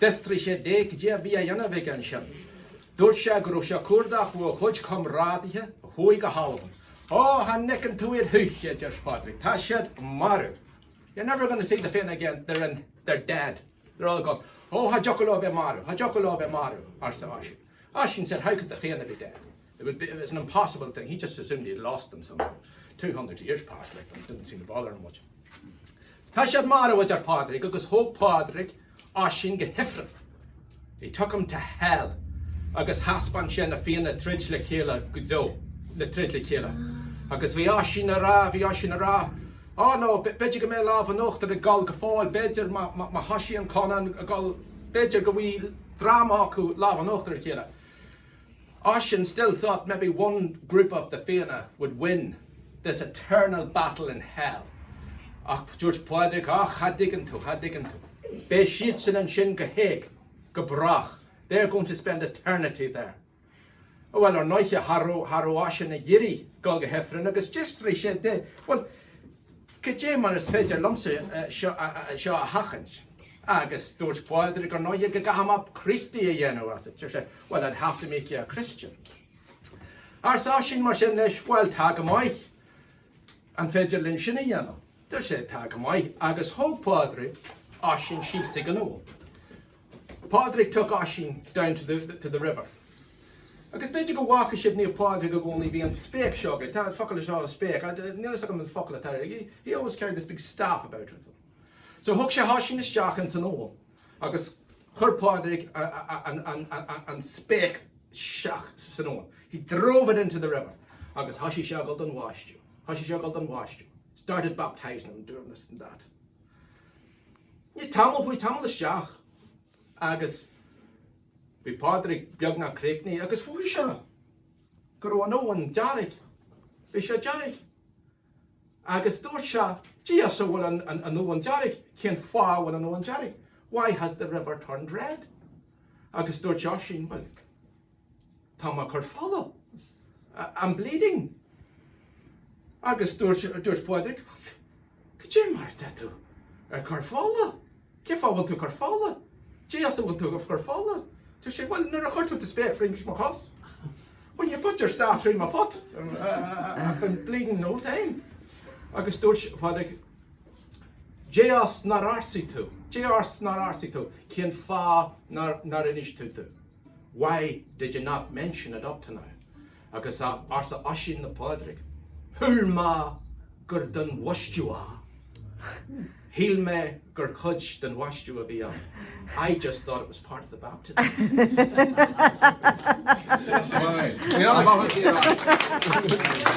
Bheadh trí chéad d'aois déanta aige ansin. Dúirt sé go raibh sé cuardach a chuid comrádaithe a chuaigh go hAlbain. Ó, chan fheiceann tú iad choíche, a deir Pádraig, tá siad marbh. You're never gonna see the Fianna again, they're dead, they're all gone. Ó, cha dtiocfadh leo bheith marbh, cha dtiocfadh leo bheith marbh, arsa Oisín. Oisín said, how could the Fianna be dead? It would be, it's an impossible thing, he just assumed he had lost them somehow. Two hundred years passed like that, it didn't seem to bother him much. Tá siad marbh a deir Pádraig agus thóg Pádraig Oisín go hIfreann. He took him to hell agus thaispeáin sé na Fianna ag troid le chéile go deo, ag troid le chéile. Agus bhí Oisín a' rá, bhí Oisín a' rá, Oh no, b'fhéidir go mbeidh lámh an uachtair ag Goll go fóill, b'fhéidir, má, má, má thoisíonn Conán agus Goll, b'fhéidir go bhfaighidh dream acu lámh an uachtair ar a chéile. Oisín still thought maybe one group of the Fianna would win this eternal battle in hell ach dúirt Pádraig ah cha dtuigeann tú, cha dtuigeann tú, beidh siadsan ansin go héag, go brách, they're going to spend eternity there. Bhuel, ar ndóiche, cha raibh Oisín ag iarraidh dul go hIfreann agus d'fhiafraigh sé de, bhuel, Cad é mar is féidir liomsa seo a sheachaint? Agus dúirt Pádraig, Ar ndóigh, go gcaithfidh mé Críostaí a dhéanamh asat. Deir sé, Well, I'd have to make you a Christian. Arsa Oisín mar sin leis, Bhuel, tá go maith, an féidir linn sin a dhéanamh? Deir sé, Tá go maith. Agus thóg Pádraig Oisín síos chuig an abhainn. Pádraig took Oisín down to the river. Agus b'fhéidir go bhfaca sibh Naomh Pádraig i gcónaí, bhí an spéic seo aige, tá an focal is áil spéic, níl fhios agam an focal atá air, he always carried this big staff about with him. So thug sé Oisín isteach ins an abhainn agus chuir Pádraig an spéic isteach san abhainn, he drove it into the river agus thoisigh sé a dhul don bháisteadh, thoisigh sé a dhul don bháisteadh, started baptising him, doing this and that. Bhí tamall, chuaigh tamall isteach, Agus bhí Pádraig beagnach críochnaithe agus chonaic sé go raibh an abhainn dearg. Bhí sé dearg. Agus dúirt sé, Cé as a bhfuil an abhainn dearg? Cén fáth a bhfuil an abhainn dearg? Why has the river turned red? Agus dúirt Oisín, Bhuel, tá mé ag cur fola. I'm bleeding. Agus dúirt Pádraig, Goidé mar atá tú ag cur fola? Cén fáth a bhfuil tú ag cur fola? Cé as a bhfuil tú ag cur fola? Dúirt sé, Bhuel, nuair a chuir tú do spéic thríd mo chos. When you put your staff through my foot. I've been bleeding the whole time. Agus dúirt Pádraig, Cé as nár arsaigh tú? Cé as nár arsaigh tú? Cén fáth nár inis tú? Why did you not mention it up to now? Agus arsa Oisín le Pádraig, Shíl mé gur den bhaistiú é. Shíl mé gur cuid den bhaistiú a bhí ann. I just thought it was part of the baptism.